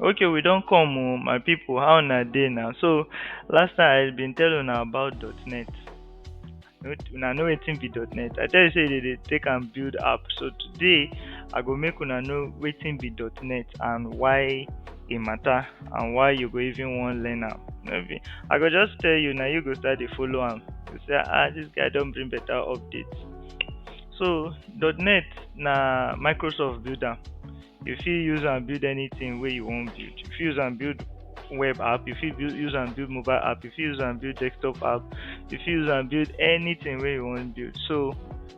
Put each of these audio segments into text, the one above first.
okay we don come o my people how una dey now so last time i been tell una about net una know wetin be net i tell you say they dey take am build app so today i go make una know wetin be net and why e matter and why you go even wan learn am no be i go just tell you na you go start dey follow am you say ah this guy don bring better update so .NET na microsoft build am you fit use am build anything wey you wan build you fit use am build web app you fit build use am build mobile app you fit use am build desktop app you fit use am build anything wey you wan build so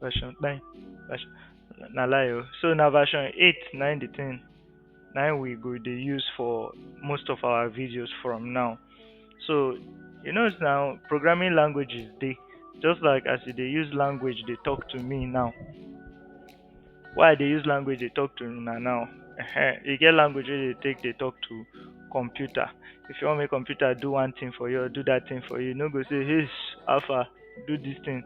version nine version na lie o so na version eight na im the thing na im we go dey use for most of our videos from now so you know now programming languages dey just like as you dey use language dey talk to me now why i dey use language dey talk to una now Ehen, e get language wey dey take dey talk to computer if you wan make computer do one thing for you or do that thing for you you no go say hey alpha do this thing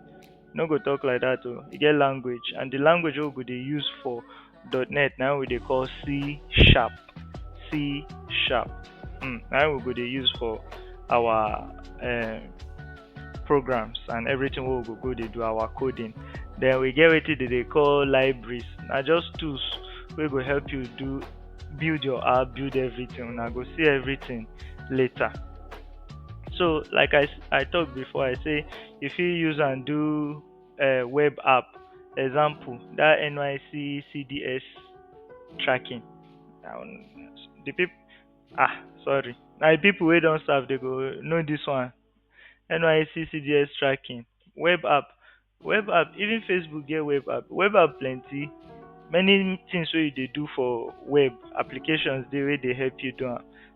you no go talk like that oh, e get language and the language wey we go dey use for .NET na we dey call C sharp C sharp mm, na we go dey use for our uh, programs and everything wey we go go dey do our coding then we get wetin dey dey call libraries na just tools wey go help you do build your app build everything una go see everything later so like i i talk before i say you fit use am do uh, web app example that nyc cds tracking um, the people ah sorry na the people wey don serve dey go know this one nyc cds tracking web app web app even facebook get web app web app plenty many things wey you dey do for web applications dey wey dey help you do am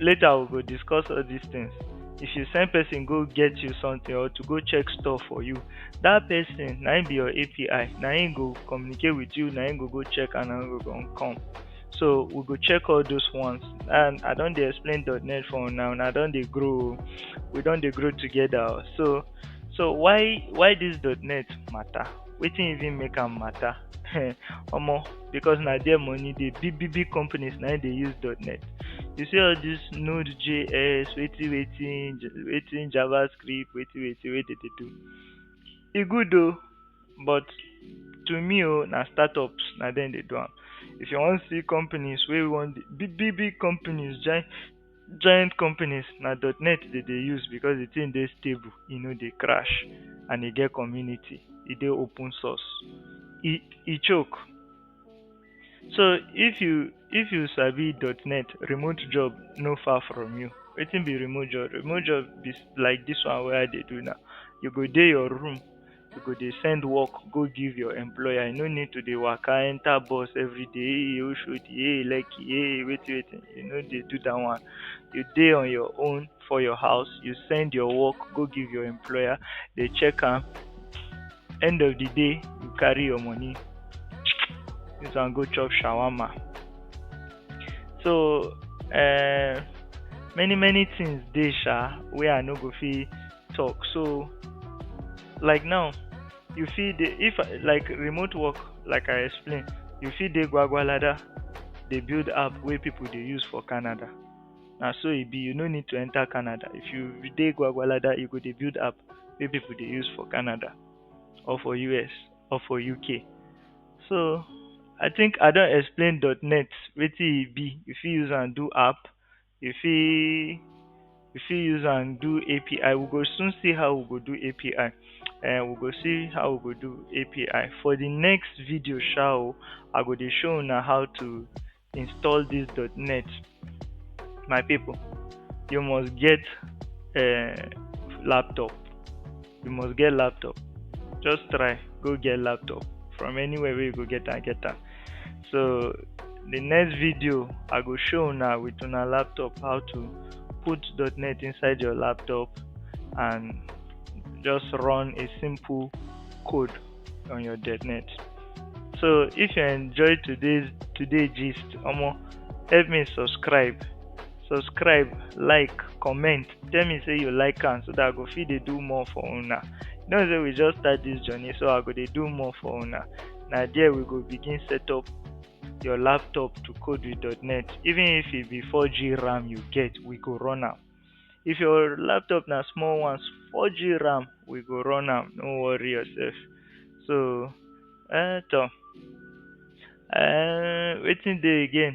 later we go discuss all these things if you send person go get you something or to go check store for you that person na him be your api na him go communicate with you na him go go check and na him go come so we go check all those ones and i don dey explain net for now and i don dey grow we don dey grow together so so why why this net matter wetin even make am matter omo because na there money dey big big big companies na im dey use .NET you see all this node js wetin wetin wetin javascript wetin wetin wey dey dey do e good o but to me o na startups na dem dey do am if you wan see companies wey wan big big big companies join giant companies na .net they dey use because the thing dey stable e no dey crash and e get community e dey open source e e choke so if you if you sabi .net remote job no far from you wetin be remote job remote job be like this one wey i dey do now you go dey your room you go dey send work go give your employer you no need to dey waka enter bus every day um oshodi um lekki um wetin wetin you no dey do that one you dey on your own for your house you send your work go give your employer dey check am end of the day you carry your money use am go chop shawarma so um many many things dey sha wey i no go fit talk so like now you fit dey if I- like remote work like i explain you fit dey gwagwalada dey build app wey people dey use for canada na so e be you no need to enter canada if you dey gwagwalada you go dey build app wey people dey use for canada or for us or for uk so i think i don explain dot net wetin e be you fit use am do app you fit you fit use am do API. We go soon see how we go do API. Uh, eh, we go see how we go do API. For the next video show, I go dey show now how to install this .NET. My people, you must get a eh, laptop. you must get laptop just try go get laptop from anywhere where you go get and get that. so the next video i go show now with una laptop how to put .NET inside your laptop and just run a simple code on your .NET so if you enjoyed today's today gist omo help me subscribe subscribe like comment tell me say you like am so that i go fit dey do more for una you know say we just start this journey so i go dey do more for una na there we go begin set up your laptop to code with .NET even if e be 4G RAM you get we go run am if your laptop na small one 4G RAM we go run am no worry yourself so eh to eh wetin dey again